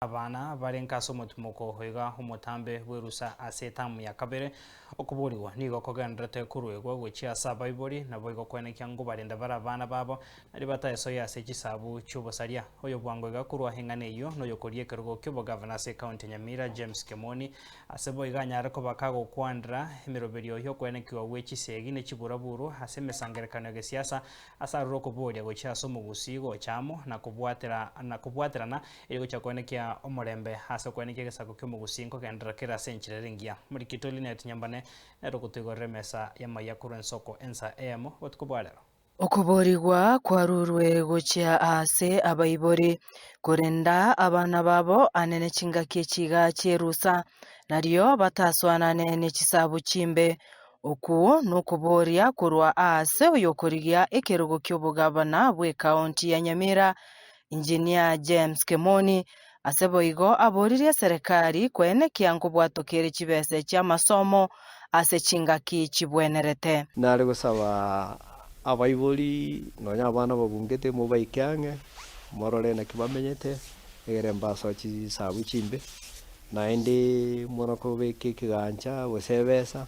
Abana barenge ase omotimoko oiga omotambe bw'erusa ase etamu ya kabere. Okoboorigwa nigo kogenderete koruegwa gochia ase abaibori, naboigo koenekia ngobarende bare abana babo, na ribaata esoe ase chisabu chi'obosaria. Oyobwango iga korwa eng'ana eyio noyokoria ekerogo ki'obogavana ase ekaunti ya Nyamira, James Kemoni, ase boigo anyare koba kagokwanera emeroberio y'okoenekigwa gwe chisegi ne chiburaburu ase emesangerekano ya gesiasa ase aroro okobooria gochia ase omogusii gocha amo na kobwatera na kobwaterana Erio gochia okwenekia omorembe ase okwenekia egesaku ki'omogusi nkogenderera kera ase enchera ere engiya. Morikito Lynette Nyambane nere ogotoigorera emesa y'amaiga korwa ensoko ensa eyemo botuko bwa rero. Okoboorigwa kwarurwe gochia aase abaibori, korenda abana babo ane ne chingaki echiga chi'erusa, nario bataswanane ne chisabu chimbe. Okwo nokobooria korwa aase oyokorigia ekerogo ki'obogavana bw'ekaonti ya Nyamira, Engineer James Kemoni ase boigo aboririe eserekari koenekia nkobwatokere chibesa echi amasomo ase chingaki chibwenerete. Nare gosaba abaibori nonya abana babungete mobaike ang'e morore naki bamenyete egere mbaso chisabu chimbe naende mono kobeka ekegancha gose ebesa.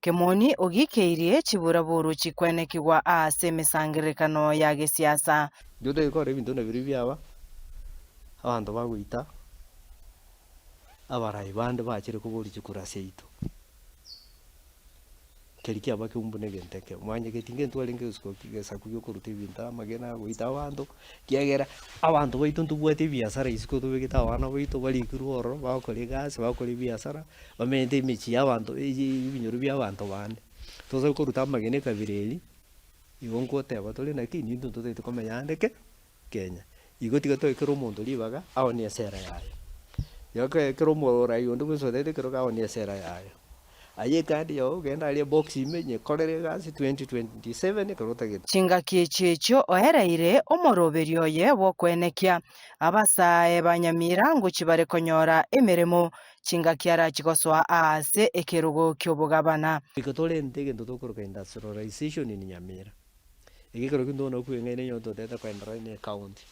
Kemoni ogikeirie chiburaburu chikwenekigwa aase emesangererekano ya gesiasa. Intwe togekora ebinto buna biria biaba, abanto bagoita abarai bande bachire koboria chikuru ase yaito. Keri kiaba keumbu na egento ekemo. Mwanchete geti intwarenge egesuku, egesaku giokoruta ebinto, amagena, goita abanto. Kiagera abanto baito ntobwati ebiasara isiko tobegete abana baito barikirwe ororo bagokora egasi bagokora ebiasara bamenyete emechie ya abanto eyeiyi ebinyoro bia abanto bande. Tosa koruta amagena ekabira eria igo ngoteba tore naki intwe totaete komenya ande ki Kenya. Igo tiga toe kera omonto ribaga aone esera yaye. Igo kera omorwaire onde bwensi otaete ekerogo aone esera yaye. Aye ecard yao ogende aria ebox ime nyekorere egasi 2027 ekero otagete. Chingaki echi echio oereire omoroberio oye bw'okoenekia abasaae ba Nyamira ngochia bare konyora emeremo, chingaki arachigosoa aase ekerogo ki'obogabana. Igo torente egento tokoroka industrialization in Nyamira. Iga ekero kintogona okweng'aina onye ototete koenderera na ecounty.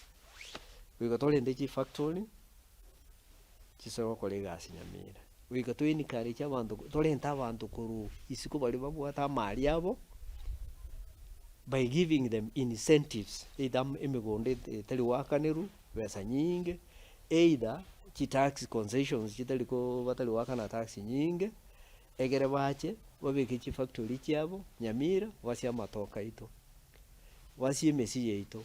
Igo torente chifactory. chisoe gokora egasi nyamere. Goika to encourage abanto torente abanto korwa isiko baria babwate amaari abo, by giving them incentives either am- emegondo et- etari goakanerwa, besa nyinge, either chi tax concessions chitari koo batari goakana tax nyinge, egere bache babeke chi factory chiabo nyamira, basie amatoka aito, basie emesii yaito.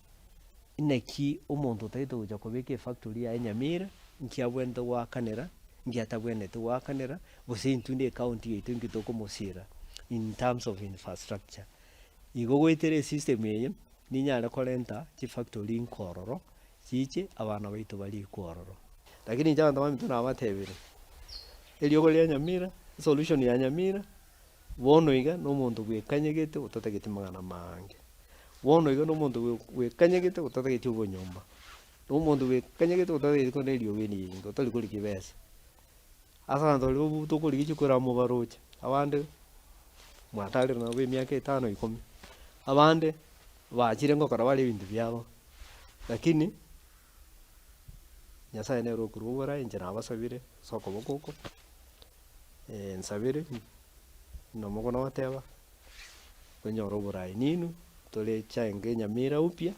Inaki omonto otagete gocha kobeka efactory yaye Nyamira, nki abwenerete goakanera, nki atabwenereti goakanera, gose intwe nde ecounty yaito nki tokomosira in terms of infrastructure. Igo goetera esystem eye ninyare korenta chifactory nko ororo, chiche abana baito barikwe ororo. Lakini inche abanto baminto nabatebire, eriogo ria Nyamira, solution ya Nyamira. Bono iga nomonto bwekanyegete otatageti magana mange. Bono iga nomonto bwe bwekanyegete otatageti obonyomba. Nomonto bwekanyegete otatageti korenda eriogo eri eringe otari korigia ebesa. Ase abanto baria bobe tokorigia chiko era mobaroche. Abande mwatarire nabo emiaka etano ikomi. Abande bachire ngokora bare ebinto biabo. Lakini Nyasaye nere okorwa obora inche nabasabire ase okoboko oko. nsabere, nomokone ogoteba, kwenyora oborai ninu, tore chainga enyamera upya,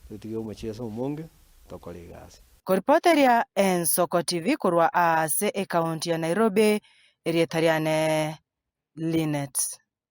totige omochie ase omonge, tokore egasi. Koripoteria Ensoko TV korwa aase ekaunti ya Nairobi, erieta riane Linet.